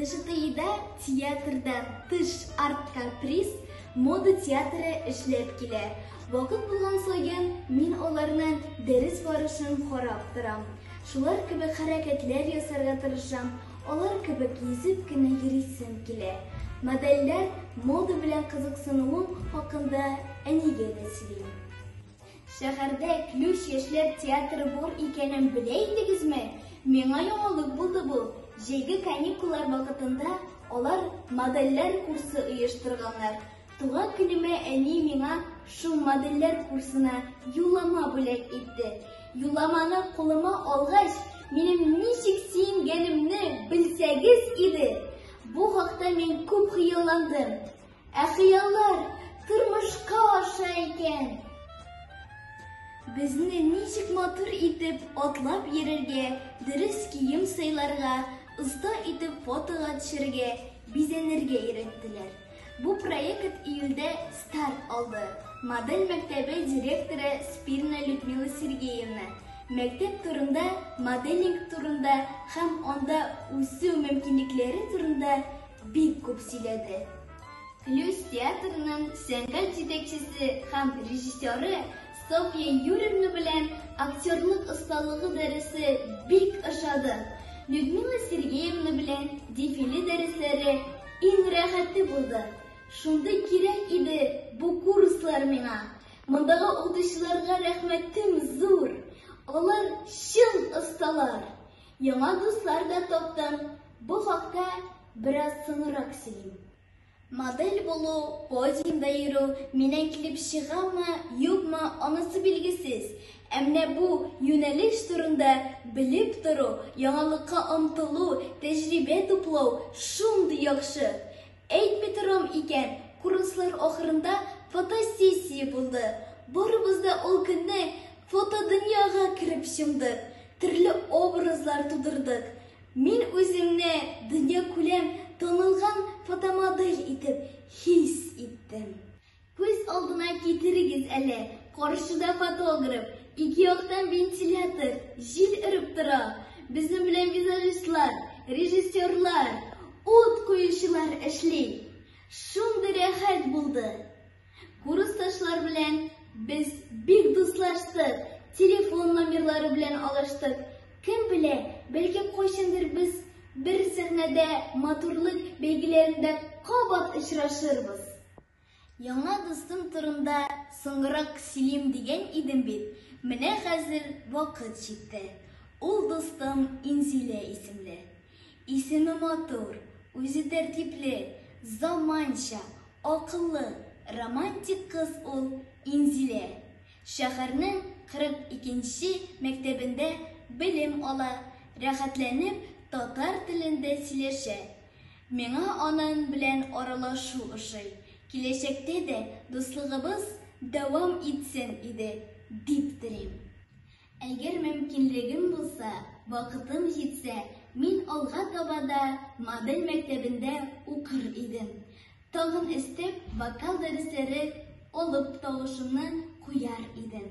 ДШТИда театрдан тыш арт-каприз мода театры эшләп килә. Вакыт булган саен мин аларның дәрес барышын карап торам. Шулар кебек хәрәкәтләр ясарга тырышам, алар кебек йөзеп кенә йөрисем килә. Модельләр мода белән кызыксынуым хакында әнигә дә сөйлим. Шәһәрдә Ключ яшьләр театры бур икәнен белә идегезме? Миңа яңалык булды бу. Җәйге каникуллар вакытында алар модельләр курсы оештырганнар. Туган көнемә әни миңа шул модельләр курсына юллама бүләк итте. Юлламаны кулыма алгач, минем ничек сөенгәнемне белсәгез иде! Бу хакта мин күп хыялландым. Ә хыяллар тормышка аша икән. Безне ничек матур итеп атлап йөрергә, дөрес кием сайларга, оста итеп фотога төшергә, бизәнергә өйрәттеләр. Бу проект июльдә старт алды. Модель мәктәбе директоры Спирна Людмила Сергеевна мәктәп турында, моделинг турында һәм анда үсү мөмкинлекләре турында Бик күп сөйләде. Клюз театрының сәнгать җитәкчесе һәм режиссеры Софья Юрьевна белән актерлык осталыгы дәресе бик ошады. Людмила Сергеевна белән дефиле дәресләре иң рәхәте булды. Шундый кирәк иде бу курслар миңа. Мондагы укытучыларга рәхмәтем зур. Алар чын осталар. Яңа дуслар да таптым. Бу хакта бераз соңрак сөйлим. Модель булу, подиумда йөрү, миннән килеп чыгамы, юкмы, анысы билгесез. Ә менә бу юнәлеш турында белеп тору, яңалыкка омтылу, тәҗрибә туплау шундый яхшы. Әйтми торам икән, курслар ахырында фотосессия булды. Барыбыз да ул көнне фотодөньяга кереп чумдык. Төрле образлар тудырдык. Мин үземне дөнья күләм танылган фотомодель итеп хис иттем. Күз алдына китерегез әле, каршыда фотограф, ике яктан вентилятор, җил өреп тора. Безнең белән визажистлар, режиссерлар, ут куючылар эшли. Шундый рәхәт булды. Курсташлар белән без бик дуслаштык, телефон номерлары белән алыштык. Кем белә, бәлки кайчандыр без бер сәхнәдә матурлык бәйгеләрендә кабат очрашырбыз. Яңа дустым турында соңрак сөйлим дигән идем бит, менә хәзер вакыт җитте. Ул дустым Инзилә исемле. Исеме матур, үзе тәртипле, заманча, акыллы, романтик кыз ул Инзилә. Шәһәрнең 42 нче мәктәбендә белем ала, рәхәтләнеп татар телендә сөйләшә. Миңа анын белән аралашу ошый, киләчәктә дә дуслыгыбыз дәвам итсен иде, дип телим. Әгәр мөмкинлегем булса, вакытым җитсә, мин алга таба да модель мәктәбендә укыр идем. Тагын өстәп, вокал дәресләре алып, тавышымны куяр идем.